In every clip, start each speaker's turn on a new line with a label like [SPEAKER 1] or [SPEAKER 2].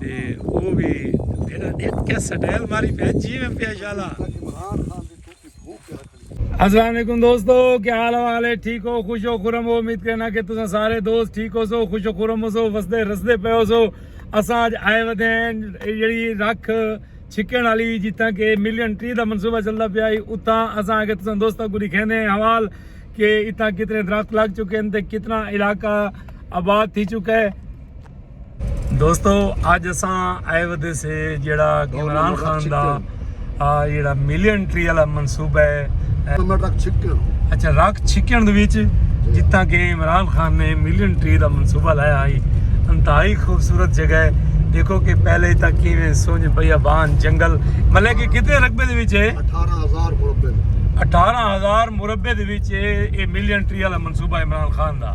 [SPEAKER 1] تے او وی ایڈا اتکا سٹائل ماری پہ جی میں پہ شالا السلام علیکم دوستو کیا حال حوال ہے ٹھیک ہو خوش ہو خورم ہو امید کرنا کہ تساں سارے دوست ٹھیک ہو سو خوش ہو خورم ہو سو وسدے رسدے پے ہو سو اساں اج آئے ودے ہیں جڑی رکھ چھکن والی جتھاں کہ ملین ٹری دا منصوبہ چلدا پیا ہے اتھاں اساں اگے تساں دوستاں کو دکھیندے ہیں حوال کہ اتھاں کتنے درخت لگ چکے ہیں تے کتنا علاقہ آباد تھی چکا ہے دوستو اج اساں آئے ودے سے جیڑا عمران خان دا جیڑا ملین ٹری والا منصوبہ ہے اچھا رک چھکن دے وچ جتھاں کہ عمران خان نے ملین ٹری دا منصوبہ لایا ہائی انتہائی خوبصورت جگہ ہے دیکھو کہ پہلے تک کیویں سونج بیا بان جنگل مطلب کہ کتنے رقبے دے وچ ہے 18000 مربع 18000 مربع دے وچ اے ملین ٹری والا منصوبہ عمران خان دا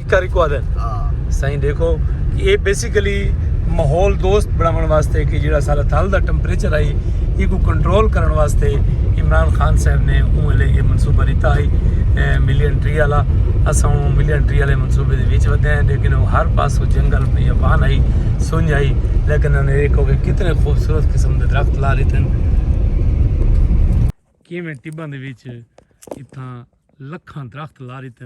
[SPEAKER 1] کر کو آدھن سائیں دیکھو کہ یہ بیسیکلی ماحول دوست بناون واسطے کہ جڑا سارا تھل دا ٹمپریچر آئی یہ کو کنٹرول کرن واسطے عمران خان صاحب نے اون لے یہ منصوبہ دیتا ہے ملین ٹری والا اساں اون ملین ٹری والے منصوبے دے وچ ودے ہیں لیکن وہ ہر پاس کو جنگل پہ یبان آئی سنج آئی لیکن انہوں نے دیکھو کہ کتنے خوبصورت قسم دے درخت لا رہے تھے کیویں ٹباں دے وچ اتھاں لکھاں درخت لا رہے تھے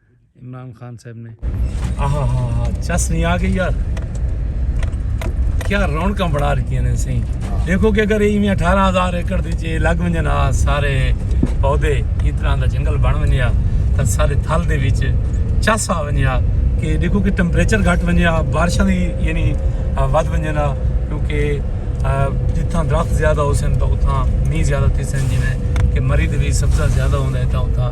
[SPEAKER 1] عمران خان صاحب نے آہا ہا ہا چس نہیں آ گئی یار کیا رونکاں بڑا رکھتی ہیں سی دیکھو کہ اگر ایویں اٹھارہ ہزار ایکڑ دی جی لگ ونجن آ سارے پودے اس طرح دا جنگل بن ونجیا تو سارے تھل دے وچ چس آ ونجیا کہ دیکھو کہ ٹمپریچر گھٹ ونجیا بارشاں دی یعنی ود ونجن آ کیونکہ جتھاں درخت زیادہ ہو سن تو اتھاں می زیادہ تھی سن جی کہ مری دے وچ سبزہ زیادہ ہوندا ہے تو اتھاں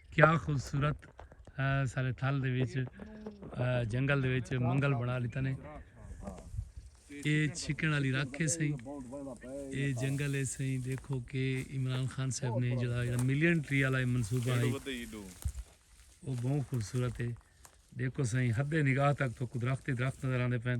[SPEAKER 1] کیا خوبصورت سارے تھل دے وچ جنگل دے وچ منگل بنا لیتا نے اے چھکن علی رکھے سہی اے جنگل ہے سہی دیکھو کہ عمران خان صاحب نے جڑا ملین ٹری والا منصوبہ ہے وہ بہت خوبصورت ہے دیکھو سہی حد نگاہ تک تو درخت ہی درخت نظر آتے پین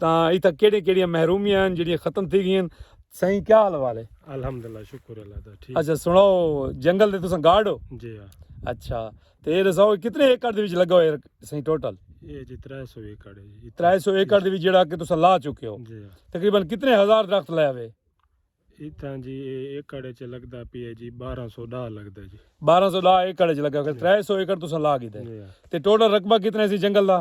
[SPEAKER 1] تاں اتھاں کیڑیاں کیڑیاں محرومیاں ہن جیڑھیاں ختم تھی گئیاں ہن سائیں کیا حال والے الحمدللہ شکر
[SPEAKER 2] اللہ دا ٹھیک اچھا سناؤ
[SPEAKER 1] جنگل دے تساں گارڈ ہو جی ہاں اچھا
[SPEAKER 2] تے
[SPEAKER 1] اے دساؤ کتنے ایکڑ دے وچ لگا ہوئے سائیں ٹوٹل یہ جی 300 ایکڑ ہے جی
[SPEAKER 2] 300 ایکڑ دے وچ جیڑا
[SPEAKER 1] کہ تساں لا چکے ہو جی ہاں تقریبا کتنے
[SPEAKER 2] ہزار
[SPEAKER 1] درخت لائے ہوئے اتھاں
[SPEAKER 2] جی اے ایکڑ وچ لگدا پی ہے جی 1210 لگدا جی 1210 ایکڑ وچ
[SPEAKER 1] لگا ہوئے 300 ایکڑ تساں لا گیتے جی ہاں تے ٹوٹل رقبہ
[SPEAKER 2] کتنا
[SPEAKER 1] سی جنگل دا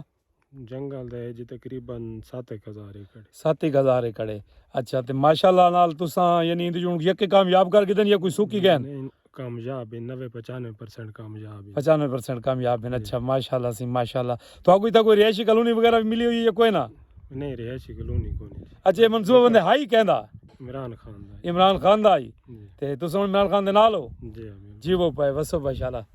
[SPEAKER 1] جنگل دے
[SPEAKER 2] جی تقریبا ست ایک ہزار ایکڑ ست ایک ہزار ایکڑ ہے
[SPEAKER 1] اچھا تے ماشاءاللہ نال تساں یعنی اندے جون یکے کامیاب کر گدن یا کوئی سوکی گئے ہیں کامیاب
[SPEAKER 2] ہیں نوے پچانوے پرسنٹ کامیاب ہیں پچانوے پرسنٹ کامیاب ہیں
[SPEAKER 1] اچھا ماشاءاللہ سی ماشاءاللہ تو کوئی تا کوئی رہائشی کلونی وغیرہ بھی ملی ہوئی ہے کوئی نہ نہیں رہائشی
[SPEAKER 2] کلونی کوئی نہیں اچھا منصوبہ بندے ہائی
[SPEAKER 1] کہندا عمران خان
[SPEAKER 2] دا عمران خان دا ہی
[SPEAKER 1] تے تساں عمران
[SPEAKER 2] خان
[SPEAKER 1] دے نال ہو جی جی وہ
[SPEAKER 2] پائے وسو
[SPEAKER 1] ماشاءاللہ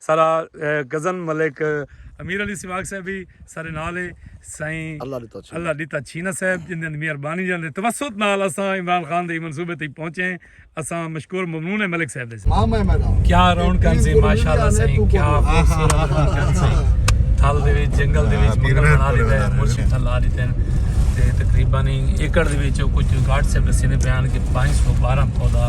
[SPEAKER 1] سارا کزن ملک امیر علی سواگ صاحب بھی سارے نال ہے سائیں اللہ ڈیتا چھینا صاحب جن دن میئر بانی جن دے توسط نال اساں عمران خان دے منصوبے تھی پہنچے ہیں اساں مشکور ممنون ہے ملک صاحب دے ساتھ کیا
[SPEAKER 3] رون کن سے
[SPEAKER 1] ماشاءاللہ سائیں کیا خوبصورت رون کن سے تھل دے ویچ جنگل دے ویچ مگر بنا لیتا ہے مرشی تھل آ لیتا ہے تقریباً ایکڑ دے ویچ کچھ گارڈ صاحب دے سینے بیان کے پانچ سو بارہ پودا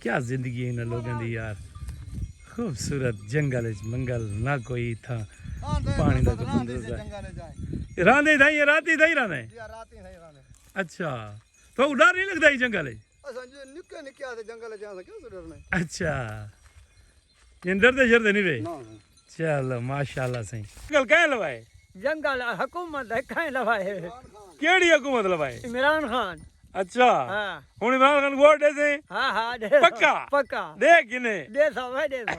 [SPEAKER 1] کیا زندگی ہے انہاں لوگوں دی یار خوبصورت جنگل وچ منگل نہ کوئی تھا پانی دا تو بندر دا راندے تھا یہ راتی تھا ہی راندے جی راتی تھا ہی راندے اچھا تو ڈر نہیں لگدا ہی جنگل وچ اساں جی نکے نکے آتے جنگل وچ آساں
[SPEAKER 4] کیوں ڈرنا اچھا
[SPEAKER 1] جندر دے شر دے نہیں رہے چلو ماشاءاللہ سائیں جنگل کہیں لوائے جنگل
[SPEAKER 5] حکومت کہیں لوائے کیڑی حکومت
[SPEAKER 1] لوائے عمران خان
[SPEAKER 5] اچھا
[SPEAKER 1] ہاں۔ ہن
[SPEAKER 5] عمران خان ووٹ
[SPEAKER 1] دے سے ہاں ہاں پکا
[SPEAKER 5] پکا
[SPEAKER 1] دے کنے
[SPEAKER 5] دے
[SPEAKER 1] سو دے سو